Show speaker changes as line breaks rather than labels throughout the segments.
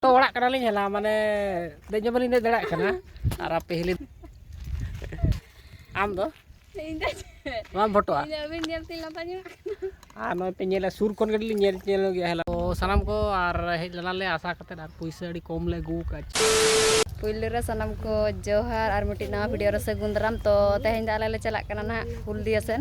ᱛᱚ ᱚᱲᱟᱜ ᱠᱟᱱᱟᱞᱤᱧ ᱦᱮᱞᱟ ᱢᱟᱱᱮ ᱫᱮᱡ ᱦᱚᱸ ᱵᱟᱹᱞᱤᱧ ᱫᱮᱡ ᱫᱟᱲᱮᱭᱟᱜ ᱠᱟᱱᱟ ᱟᱨ ᱟᱯᱮ ᱦᱤᱞᱤ ᱟᱢ ᱫᱚ ᱵᱟᱢ ᱯᱷᱳᱴᱳᱜᱼᱟ ᱟᱨ ᱱᱚᱜᱼᱚᱭ ᱯᱮ ᱧᱮᱞᱟ ᱥᱩᱨ ᱠᱷᱚᱱ ᱜᱮᱞᱤᱧ ᱧᱮᱞ ᱧᱮᱞ ᱜᱮᱭᱟ ᱦᱮᱞᱟ ᱛᱚ ᱥᱟᱱᱟᱢ ᱠᱚ ᱟᱨ ᱦᱮᱡ ᱞᱮᱱᱟᱞᱮ ᱟᱥᱟ ᱠᱟᱛᱮ ᱟᱨ ᱯᱩᱭᱥᱟᱹ ᱟᱹᱰᱤ ᱠᱚᱢ ᱞᱮ ᱟᱹᱜᱩ ᱟᱠᱟᱫ ᱯᱩᱭᱞᱩ
ᱨᱮ ᱥᱟᱱᱟᱢ ᱠᱚ ᱡᱚᱦᱟᱨ ᱟᱨ ᱢᱤᱫᱴᱤᱡ ᱱᱟᱣᱟ ᱵᱷᱤᱰᱤᱭᱳ ᱨᱮ ᱥᱟᱹᱜᱩᱱ ᱫᱟᱨᱟᱢ ᱛᱚ ᱛᱮᱦᱮᱧ ᱫᱚ ᱟᱞᱮ ᱞᱮ ᱪᱟᱞᱟᱜ ᱠᱟᱱᱟ ᱱᱟᱦᱟᱜ ᱦᱩᱞᱫᱤᱭᱟ ᱥᱮᱱ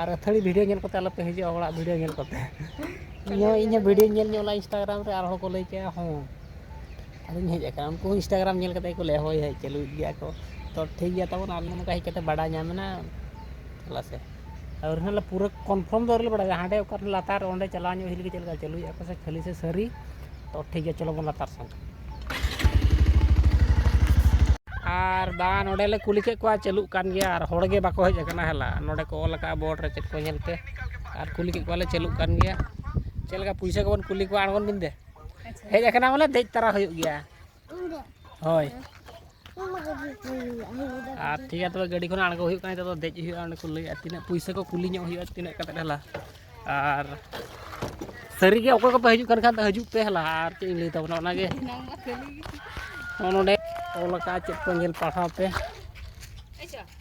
ᱟᱨ ᱟᱹᱛᱷᱟᱹᱲᱤ ᱵᱷᱤᱰᱤᱭᱳ ᱧᱮᱞ ᱠᱟᱛᱮᱫ ᱟᱞᱚᱯᱮ ᱦᱤᱡᱩᱜᱼᱟ ᱦᱚᱲᱟᱜ ᱵᱷᱤᱰᱤᱭᱳ ᱧᱮᱞ ᱠᱟᱛᱮᱫ ᱤᱧᱦᱚᱸ ᱤᱧᱦᱚᱸ ᱵᱷᱤᱰᱤᱭᱳᱧ ᱧᱮᱞ ᱧᱚᱜ ᱞᱮᱫᱟ ᱤᱱᱥᱴᱟᱜᱨᱟᱢ ᱨᱮ ᱟᱨ ᱦᱚᱲᱠᱚ ᱞᱟᱹᱭ ᱠᱮᱫᱟ ᱦᱮᱸ ᱟᱫᱚᱧ ᱦᱮᱡ ᱟᱠᱟᱱᱟ ᱩᱱᱠᱩ ᱦᱚᱸ ᱤᱱᱥᱴᱟᱜᱨᱟᱢ ᱧᱮᱞ ᱠᱟᱛᱮᱫ ᱜᱮᱠᱚ ᱞᱟᱹᱭᱮᱫᱟ ᱦᱳᱭ ᱦᱳᱭ ᱪᱟᱹᱞᱩᱭᱮᱫ ᱜᱮᱭᱟ ᱠᱚ ᱛᱳ ᱴᱷᱤᱠ ᱜᱮᱭᱟ ᱛᱟᱵᱚᱱ ᱟᱞᱮ ᱱᱚᱝᱠᱟ ᱦᱮᱡ ᱠᱟᱛᱮᱫ ᱵᱟᱰᱟᱭ ᱧᱟᱢ ᱮᱱᱟ ᱪᱟᱞᱟᱜ ᱟᱥᱮ ᱟᱹᱣᱨᱤ ᱦᱚᱸᱞᱮ ᱯᱩᱨᱟᱹ ᱠᱚᱱᱯᱷᱟᱨᱢ ᱫᱚ ᱟᱹᱣᱨᱤᱞᱮ ᱵᱟᱲᱟᱭᱟ ᱦᱟᱸᱰᱮ ᱚᱠᱟᱨᱮ ᱞᱟᱛᱟᱨ ᱚᱸᱰᱮ ᱪᱟᱞᱟᱣ ᱧᱚᱜ ᱦᱩᱭ ᱞᱮᱱᱜᱮ ᱪᱮᱫ ᱞᱮᱠᱟ ᱪᱟᱹᱞᱩᱭᱮᱫᱟ ᱠᱚ ᱥᱮ ᱠᱷᱟᱹᱞᱤ ᱥᱮ ᱥᱟᱹᱨᱤ ᱛᱳ ᱴᱷᱤᱠ ᱜᱮᱭᱟ ᱪᱚᱞᱚ ᱵᱚᱱ ᱞᱟᱛᱟᱨ ᱥᱮᱱ ᱟᱨ ᱵᱟᱝ ᱱᱚᱸᱰᱮᱞᱮ ᱠᱩᱞᱤ ᱠᱮᱫ ᱠᱚᱣᱟ ᱪᱟᱹᱞᱩᱜ ᱠᱟᱱ ᱜᱮᱭᱟ ᱟᱨ ᱦᱚᱲᱜᱮ ᱵᱟᱠᱚ ᱦᱮᱡ ᱟᱠᱟᱱᱟ ᱦᱮᱞᱟ ᱱᱚᱸᱰᱮ ᱠᱚ ᱚᱞ ᱟᱠᱟᱫᱼᱟ ᱵᱳᱨᱰ ᱨᱮ ᱪᱮᱫ ᱠᱚ ᱧᱮᱞᱛᱮ ᱟᱨ ᱠᱩᱞᱤ ᱠᱮᱫ ᱠᱚᱣᱟᱞᱮ ᱪᱟᱹᱞᱩᱜ ᱠᱟᱱ ᱜᱮᱭᱟ ᱪᱮᱫ ᱞᱮᱠᱟ ᱯᱩᱭᱥᱟᱹ ᱠᱚᱵᱚᱱ ᱠᱩᱞᱤ ᱠᱚᱣᱟ ᱟᱬᱜᱚᱱ ᱵᱤᱱ ᱫᱮ ᱦᱮᱡ ᱟᱠᱟᱱᱟ ᱵᱚᱞᱮ ᱫᱮᱡ ᱛᱟᱨᱟ ᱦᱩᱭᱩᱜ ᱜᱮᱭᱟ ᱦᱳᱭ ᱟᱨ ᱴᱷᱤᱠ ᱜᱮᱭᱟ ᱛᱚᱵᱮ ᱜᱟᱹᱰᱤ ᱠᱷᱚᱱ ᱟᱬᱜᱚ ᱦᱩᱭᱩᱜ ᱠᱟᱱᱟ ᱱᱤᱛᱚᱜ ᱫᱚ ᱫᱮᱡ ᱦᱩᱭᱩᱜᱼᱟ ᱚᱸᱰᱮ ᱠᱚ ᱞᱟᱹᱭᱮᱫᱼᱟ ᱛᱤᱱᱟᱹᱜ ᱯᱩᱭᱥᱟᱹ ᱠᱚ ᱠᱩᱞᱤ ᱧᱚᱜ ᱦᱩᱭᱩᱜᱼᱟ ᱛᱤᱱᱟᱹᱜ ᱠᱟᱛᱮᱫ ᱦᱮᱞᱟ ᱟᱨ ᱥᱟᱹᱨᱤᱜᱮ ᱚᱠᱚᱭ ᱠᱚᱯᱮ ᱦᱤᱡᱩᱜ ᱠᱟᱱ ᱠᱷᱟᱱ ᱫᱚ ᱦᱤᱡᱩᱜ ᱯᱮ ᱦᱮᱞᱟ ᱟᱨ ᱪᱮᱫ ᱤᱧ ᱞᱟᱹᱭ ᱛᱟᱵᱚᱱᱟ ᱚᱱᱟᱜᱮ ᱱᱚᱜᱼᱚ ᱱᱚᱰᱮ ᱚᱞ ᱟᱠᱟᱫᱼᱟ ᱪᱮᱫ ᱠᱚ ᱧᱮᱞ ᱯᱟᱲᱦᱟᱣ ᱯᱮ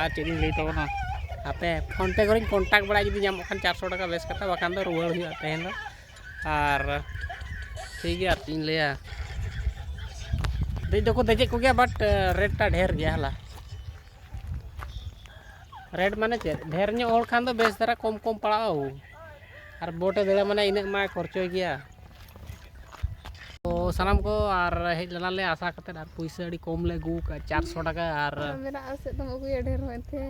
ᱟᱨ ᱪᱮᱫ ᱤᱧ ᱞᱟᱹᱭ ᱛᱟᱵᱚᱱᱟ ᱟᱯᱮ ᱯᱷᱳᱱ ᱯᱮ ᱠᱚᱨᱮᱧ ᱠᱚᱱᱴᱟᱠᱴ ᱵᱟᱲᱟᱭᱟ ᱡᱩᱫᱤ ᱧᱟᱢᱚᱜ ᱠᱷᱟᱱ ᱪᱟᱨᱥᱚ ᱴᱟᱠᱟ ᱵᱮᱥ ᱠᱟᱛᱷᱟ ᱵᱟᱠᱷᱟᱱ ᱫᱚ ᱨᱩᱣᱟᱹᱲ ᱦᱩᱭᱩᱜᱼᱟ ᱛᱮᱦᱮᱧ ᱫᱚ ᱟᱨ ᱴᱷᱤᱠ ᱜᱮᱭᱟ ᱟᱨ ᱪᱮᱫ ᱤᱧ ᱞᱟᱹᱭᱟ ᱫᱮᱡ ᱫᱚᱠᱚ ᱫᱮᱡᱮᱫ ᱠᱚᱜᱮᱭᱟ ᱵᱟᱴ ᱨᱮᱴᱴᱟ ᱰᱷᱮᱨ ᱜᱮᱭᱟ ᱦᱟᱞᱟ ᱨᱮᱴ ᱢᱟᱱᱮ ᱪᱮᱫ ᱰᱷᱮᱨ ᱧᱚᱜ ᱦᱚᱲ ᱠᱷᱟᱱ ᱫᱚ ᱵᱮᱥ ᱫᱷᱟᱨᱟ ᱠᱚᱢ ᱠᱚᱢ ᱯᱟᱲᱟᱜᱼᱟ ᱟᱨ ᱵᱳᱴᱮ ᱫᱮᱡᱚᱜᱼᱟ ᱢᱟᱱᱮ ᱤᱱᱟᱹᱜ ᱢᱟᱭ ᱠᱷᱚᱨᱪᱚᱭ ᱜᱮᱭᱟ ᱥᱟᱱᱟᱢ ᱠᱚ ᱟᱨ ᱦᱮᱡ ᱞᱮᱱᱟᱞᱮ ᱟᱥᱟ ᱠᱟᱛᱮᱫ ᱟᱨ ᱯᱩᱭᱥᱟᱹ ᱟᱹᱰᱤ ᱠᱚᱢ ᱞᱮ ᱟᱹᱜᱩ ᱠᱟᱜᱼᱟ ᱪᱟᱨᱥᱚ ᱴᱟᱠᱟ ᱟᱨ ᱢᱮᱱᱟᱜᱼᱟ ᱥᱮᱫ ᱫᱚᱢ ᱟᱹᱜᱩᱭᱟ
ᱰᱷᱮᱨ ᱦᱚᱸ ᱮᱱᱛᱮ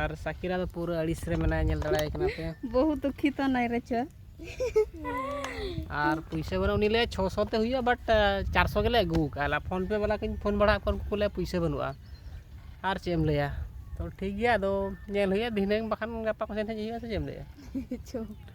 ᱟᱨ ᱥᱟᱠᱤᱨᱟ ᱫᱚ
ᱯᱩᱨᱟᱹ ᱟᱹᱲᱤᱥ ᱨᱮ ᱢᱮᱱᱟᱭᱟ ᱧᱮᱞ ᱫᱟᱲᱮᱭᱟᱭ ᱠᱟᱱᱟ ᱯᱮ ᱵᱚᱦᱩ ᱫᱩᱠᱷᱤ ᱛᱚ ᱱᱟᱭ
ᱨᱮᱪᱚ ᱟᱨ
ᱯᱩᱭᱥᱟᱹ ᱵᱟᱹᱱᱩᱜ ᱩᱱᱤ ᱞᱟᱹᱭᱟ ᱪᱷᱚ ᱥᱚ ᱛᱮ ᱦᱩᱭᱩᱜᱼᱟ ᱵᱟᱴ ᱪᱟᱨᱥᱚ ᱜᱮᱞᱮ ᱟᱹᱜᱩ ᱠᱟᱜᱼᱟ ᱯᱷᱳᱱ ᱯᱮ ᱵᱟᱞᱟ ᱠᱚᱧ ᱯᱷᱳᱱ ᱵᱟᱲᱟ ᱠᱚᱣᱟ ᱩᱱᱠᱩ ᱞᱟᱹᱭᱟ ᱯᱩᱭᱥᱟᱹ ᱵᱟᱹᱱᱩᱜᱼᱟ ᱟᱨ ᱪᱮᱫ ᱮᱢ ᱞᱟᱹᱭᱟ ᱛᱚ ᱴᱷᱤᱠ ᱜᱮᱭᱟ ᱟᱫᱚ ᱧᱮᱞ ᱦᱩᱭᱩᱜᱼᱟ ᱫᱷᱤᱱᱟᱹᱝ ᱵᱟᱠᱷᱟᱱ ᱜᱟᱯᱟ ᱠᱚᱥᱮᱱ ᱦᱮᱡ ᱦᱩᱭᱩᱜᱼᱟ ᱥᱮ ᱪᱮᱫ ᱮᱢ ᱞᱟᱹᱭᱟ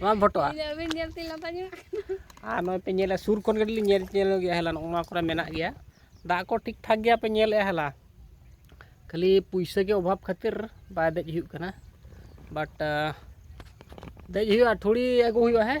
ᱵᱟᱢ ᱯᱷᱳᱴᱳᱜᱼᱟ ᱟᱹᱵᱤᱱ ᱧᱮᱞ ᱛᱮ
ᱞᱟᱸᱫᱟ ᱧᱚᱜ ᱟᱨ ᱱᱚᱜᱼᱚᱭ ᱯᱮ
ᱧᱮᱞᱟ ᱥᱩᱨ ᱠᱷᱚᱱ ᱜᱮ ᱞᱤᱧ ᱧᱮᱞ ᱧᱮᱞ ᱜᱮᱭᱟ ᱦᱮᱞᱟ ᱱᱚᱜᱼᱚ ᱱᱚᱣᱟ ᱠᱚᱨᱮ ᱢᱮᱱᱟᱜ ᱜᱮᱭᱟ ᱫᱟᱜ ᱠᱚ ᱴᱷᱤᱠ ᱴᱷᱟᱠ ᱜᱮᱭᱟ ᱯᱮ ᱧᱮᱞᱮᱜᱼᱟ ᱦᱮᱞᱟ ᱠᱷᱟᱹᱞᱤ ᱯᱩᱭᱥᱟᱹ ᱜᱮ ᱚᱵᱷᱟᱵ ᱠᱷᱟᱹᱛᱤᱨ ᱵᱟᱭ ᱫᱮᱡ ᱦᱩᱭᱩᱜ ᱠᱟᱱᱟ ᱵᱟᱴ ᱫᱮᱡ ᱦᱩᱭᱩᱜᱼᱟ ᱴᱷᱩᱲᱤ ᱟᱹᱜᱩ ᱦᱩᱭᱩᱜᱼᱟ ᱦᱮᱸ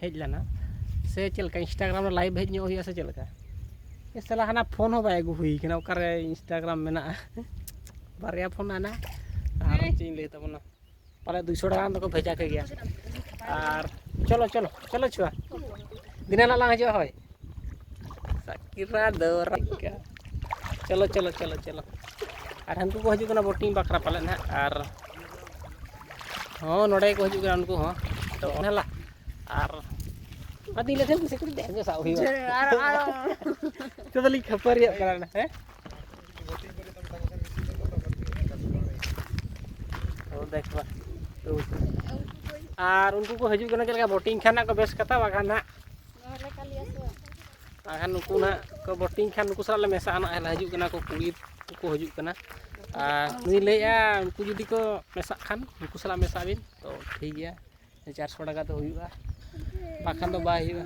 ᱦᱮᱡ ᱞᱮᱱᱟ ᱥᱮ ᱪᱮᱫ ᱞᱮᱠᱟ ᱤᱱᱥᱴᱟᱜᱨᱟᱢ ᱨᱮ ᱞᱟᱭᱤᱵᱷ ᱦᱮᱡ ᱧᱚᱜ ᱦᱩᱭᱩᱜᱼᱟ ᱥᱮ ᱪᱮᱫ ᱞᱮᱠᱟ ᱮ ᱥᱟᱞᱟ ᱦᱟᱱᱟ ᱯᱷᱳᱱ ᱦᱚᱸ ᱵᱟᱭ ᱟᱹᱜᱩ ᱦᱩᱭ ᱠᱟᱱᱟ ᱚᱠᱟᱨᱮ ᱤᱱᱥᱴᱟᱜᱨᱟᱢ ᱢᱮᱱᱟᱜᱼᱟ ᱵᱟᱨᱭᱟ ᱯᱷᱳᱱ ᱟᱱᱟ ᱟᱨ ᱪᱮᱫ ᱤᱧ ᱞᱟᱹᱭ ᱛᱟᱵᱚᱱᱟ ᱯᱟᱞᱮ ᱫᱩᱭᱥᱚ ᱴᱟᱠᱟ ᱜᱟᱱ ᱫᱚᱠᱚ ᱵᱷᱮᱡᱟ ᱠᱮᱜᱮᱭᱟ ᱟᱨ ᱪᱚᱞᱚ ᱪᱚᱞᱚ ᱪᱚᱞᱚ ᱪᱷᱩᱣᱟ ᱫᱤᱱᱟᱹ ᱦᱤᱞᱳᱜ ᱞᱟᱝ ᱦᱤᱡᱩᱜᱼᱟ ᱦᱳᱭ ᱥᱟᱠᱤᱨᱟ ᱫᱚᱨᱟᱠᱟ ᱪᱚᱞᱚ ᱪᱚᱞᱚ ᱪᱚᱞᱚ ᱪᱚᱞᱚ ᱟᱨ ᱦᱟᱹᱱᱠᱩ ᱠᱚ ᱦᱤᱡᱩᱜ ᱠᱟᱱᱟ ᱵᱳᱴᱤᱝ ᱵᱟᱠᱷᱨᱟ ᱯᱟᱞᱮ ᱱᱟᱜ ᱟᱨ ᱦᱚᱸ ᱱᱚᱰᱮ ᱠᱚ ᱦᱤᱡᱩᱜ ᱠᱟᱱᱟ ᱩᱱᱠᱩ ᱦᱚᱸ ᱛᱚ ᱚᱱᱟ ᱞᱟ ᱟᱨ ᱟᱫᱤ ᱞᱮᱴᱮᱱ ᱠᱩᱥᱤ ᱠᱩᱥᱤ ᱫᱮ ᱥᱟᱵ ᱦᱩᱭᱩᱜᱼᱟ ᱟᱨ ᱟᱨ ᱛᱚ ᱫᱚᱞᱤᱧ ᱠᱷᱟᱹᱯᱟᱹᱨᱤᱭᱟᱜ ᱠᱟᱱᱟ ᱦᱮᱸ ᱫᱮᱠᱷ ᱵᱟ ᱟᱨ ᱩᱱᱠᱩ ᱠᱚ ᱦᱤᱡᱩᱜ ᱠᱟᱱᱟ ᱪᱮᱫ ᱞᱮᱠᱟ ᱵᱳᱴᱤᱝ ᱠᱷᱟᱱ ᱱᱟᱜ ᱠᱚ ᱵᱮᱥ ᱠᱟᱛᱷᱟ ᱵᱟᱠᱷᱟᱱ ᱱᱟᱜ
ᱟᱨ ᱱᱩᱠᱩ
ᱱᱟᱦᱟᱜ ᱠᱚ ᱵᱚᱴᱤᱝ ᱠᱷᱟᱱ ᱱᱩᱠᱩ ᱥᱟᱞᱟᱜ ᱞᱮ ᱢᱮᱥᱟᱜᱼᱟ ᱱᱟᱦᱟᱜ ᱦᱮᱞᱟ ᱦᱤᱡᱩᱜ ᱠᱟᱱᱟ ᱠᱚ ᱠᱩᱲᱤ ᱠᱚ ᱦᱤᱡᱩᱜ ᱠᱟᱱᱟ ᱟᱨ ᱩᱱᱤ ᱞᱟᱹᱭᱮᱫᱼᱟ ᱩᱱᱠᱩ ᱡᱩᱫᱤ ᱠᱚ ᱢᱮᱥᱟᱜ ᱠᱷᱟᱱ ᱩᱱᱠᱩ ᱥᱟᱞᱟᱜ ᱢᱮᱥᱟᱜ ᱵᱤᱱ ᱛᱚ ᱴᱷᱤᱠ ᱜᱮᱭᱟ ᱪᱟᱨᱥᱚ ᱴᱟᱠᱟ ᱫᱚ ᱦᱩᱭᱩᱜᱼᱟ ᱵᱟᱠᱷᱟᱱ ᱫᱚ ᱵᱟᱭ ᱦᱩᱭᱩᱜᱼᱟ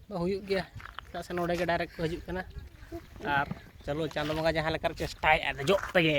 ᱫᱚ ᱦᱩᱭᱩᱜ ᱜᱮᱭᱟ ᱪᱮᱫᱟᱜ ᱥᱮ ᱱᱚᱰᱮ ᱜᱮ ᱰᱟᱭᱨᱮᱠᱴ ᱠᱚ ᱦᱤᱡᱩᱜ ᱠᱟᱱᱟ ᱟᱨ ᱪᱚᱞᱚ ᱪᱟᱸᱫᱚ ᱵᱚᱸᱜᱟ ᱡᱟᱦᱟᱸ ᱞᱮᱠᱟᱨᱮ ᱪᱮᱥᱴᱟᱭᱮᱫᱼᱟ ᱫᱮᱡᱚᱜ ᱛᱮᱜᱮ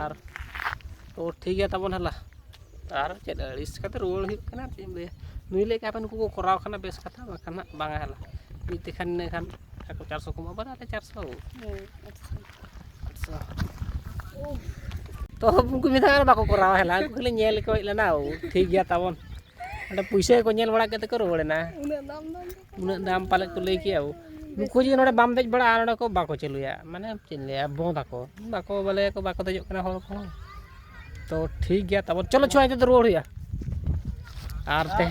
ᱟᱨ ᱛᱚ ᱴᱷᱤᱠ ᱜᱮᱭᱟ ᱛᱟᱵᱚᱱ ᱦᱮᱞᱟ ᱟᱨ ᱪᱮᱫ ᱟᱹᱲᱤᱥ ᱠᱟᱛᱮ ᱨᱩᱣᱟᱹᱲ ᱦᱩᱭᱩᱜ ᱠᱟᱱᱟ ᱪᱮᱫ ᱮᱢ ᱞᱟᱹᱭᱟ ᱱᱩᱭ ᱞᱟᱹᱭᱮᱫ ᱠᱟᱱ ᱱᱩᱠᱩ ᱠᱚ ᱠᱚᱨᱟᱣ ᱠᱷᱟᱱ ᱵᱮᱥ ᱠᱟᱛᱷᱟ ᱵᱟᱠᱷᱟᱱ ᱦᱟᱸᱜ ᱵᱟᱝᱟ ᱦᱮᱞᱟ ᱢᱤᱫ ᱛᱮᱠᱷᱟᱱ ᱤᱱᱟᱹ ᱠᱷᱟᱱ ᱟᱠᱚ ᱪᱟᱨᱥᱚ ᱠᱚ ᱮᱢᱚᱜᱼᱟ ᱵᱟᱨ ᱟᱞᱮ ᱪᱟᱨᱥᱚ ᱟᱴᱥᱚ ᱛᱚ ᱩᱱᱠᱩ ᱢᱮᱛᱟᱜ ᱠᱟᱱᱟ ᱵᱟᱠᱚ ᱠᱚᱨᱟᱣᱟ ᱦᱮᱞᱟ ᱩᱱᱠᱩ ᱠᱷᱟᱹᱞᱤ ᱧᱮᱞ ᱠᱚ ᱦᱮᱡ ᱞᱮᱱᱟ ᱴᱷᱤᱠ ᱜᱮᱭᱟ ᱛᱟᱵᱚᱱ ᱚᱸᱰᱮ ᱯᱩᱭᱥᱟᱹ ᱠᱚ ᱧᱮᱞ ᱵᱟᱲᱟ ᱠᱟᱛᱮ ᱠᱚ ᱨᱩᱣᱟᱹᱲᱮᱱᱟ ᱩᱱᱟᱹᱜ ᱫᱟᱢ ᱯᱟᱞᱮᱫ ᱠᱚ ᱞᱟᱹᱭ ᱠᱮᱜᱼᱟ ᱱᱩᱠᱩ ᱡᱩᱫᱤ ᱱᱚᱰᱮ ᱵᱟᱢ ᱫᱮᱡ ᱵᱟᱲᱟᱜᱼᱟ ᱱᱚᱰᱮ ᱠᱚ ᱵᱟᱠᱚ ᱪᱟᱹᱞᱩᱭᱟ ᱢᱟᱱᱮ ᱪᱮᱫ ᱤᱧ ᱞᱟᱹᱭᱟ ᱵᱚᱸᱫᱽ ᱟᱠᱚ ᱵᱟᱠᱚ ᱵᱚᱞᱮ ᱠᱚ ᱵᱟᱠᱚ ᱫᱮᱡᱚᱜ ᱠᱟᱱᱟ ᱦᱚᱲ ᱠᱚ ᱛᱚ ᱴᱷᱤᱠ ᱜᱮᱭᱟ ᱛᱟᱵᱚᱱ ᱪᱚᱞᱚ ᱪᱷᱚᱭ ᱛᱮᱫᱚ ᱨᱩᱣᱟᱹᱲ ᱦᱩᱭᱩᱜᱼᱟ ᱟᱨ ᱛᱮ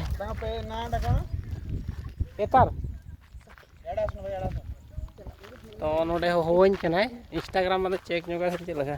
ᱮᱛᱟᱨ
ᱛᱚ
ᱱᱚᱰᱮ ᱦᱚᱦᱚᱣᱟᱹᱧ ᱠᱟᱱᱟᱭ ᱤᱱᱥᱴᱟᱜᱨᱟᱢ ᱢᱟᱱᱮ ᱪᱮᱠ ᱧᱚᱜᱟ ᱥᱮ ᱪᱮᱫ ᱞᱮᱠᱟ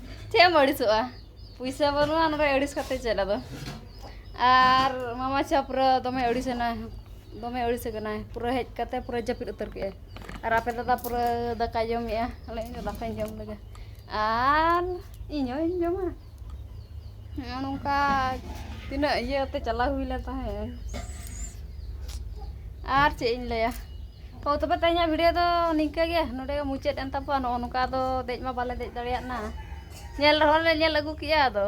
ᱪᱮᱫ ᱮᱢ ᱟᱹᱲᱤᱥᱚᱜᱼᱟ ᱯᱩᱭᱥᱟᱹ ᱵᱟᱹᱱᱩᱜᱼᱟ ᱚᱱᱟᱨᱮ ᱟᱹᱲᱤᱥ ᱠᱟᱛᱮ ᱪᱮᱫ ᱟᱫᱚ ᱟᱨ ᱢᱟᱢᱟ ᱪᱷᱟᱯᱨᱟᱹ ᱫᱚᱢᱮ ᱟᱹᱲᱤᱥ ᱮᱱᱟᱭ ᱫᱚᱢᱮ ᱟᱹᱲᱤᱥ ᱟᱠᱟᱱᱟᱭ ᱯᱩᱨᱟᱹ ᱦᱮᱡ ᱠᱟᱛᱮ ᱯᱩᱨᱟᱹ ᱡᱟᱹᱯᱤᱫ ᱩᱛᱟᱹᱨ ᱠᱮᱫᱟᱭ ᱟᱨ ᱟᱯᱮ ᱫᱟᱫᱟ ᱯᱩᱨᱟᱹ ᱫᱟᱠᱟᱭ ᱡᱚᱢᱮᱜᱼᱟ ᱟᱨ ᱤᱧ ᱫᱚ ᱫᱟᱠᱟᱧ ᱡᱚᱢ ᱞᱮᱜᱮ ᱟᱨ ᱤᱧ ᱦᱚᱧ ᱡᱚᱢᱟ ᱱᱚᱜᱼᱚ ᱱᱚᱝᱠᱟ ᱛᱤᱱᱟᱹᱜ ᱤᱭᱟᱹᱛᱮ ᱪᱟᱞᱟᱣ ᱦᱩᱭ ᱞᱮᱱ ᱛᱟᱦᱮᱸᱫ ᱟᱨ ᱪᱮᱫ ᱤᱧ ᱞᱟᱹᱭᱟ ᱛᱚ ᱛᱚᱵᱮ ᱛᱮᱦᱮᱧᱟᱜ ᱵᱷᱤᱰᱤᱭᱳ ᱫᱚ ᱱᱤᱝᱠᱟᱹ ᱜᱮ ᱱᱚᱰᱮ ᱜᱮ ᱢᱩᱪᱟᱹᱫ ᱮᱱ ᱛᱟᱵᱚᱱᱟ ᱱᱚᱜᱼᱚ ᱱᱚᱝᱠᱟ ᱫᱚ ᱫᱮᱡ ᱢᱟ ᱵᱟᱞᱮ ᱫᱮᱡ ᱫᱟᱲᱮᱭᱟᱜ ᱱᱟ ᱧᱮᱞ ᱨᱮᱦᱚᱸ ᱞᱮ ᱧᱮᱞ ᱟᱹᱜᱩ ᱠᱮᱜᱼᱟ ᱟᱫᱚ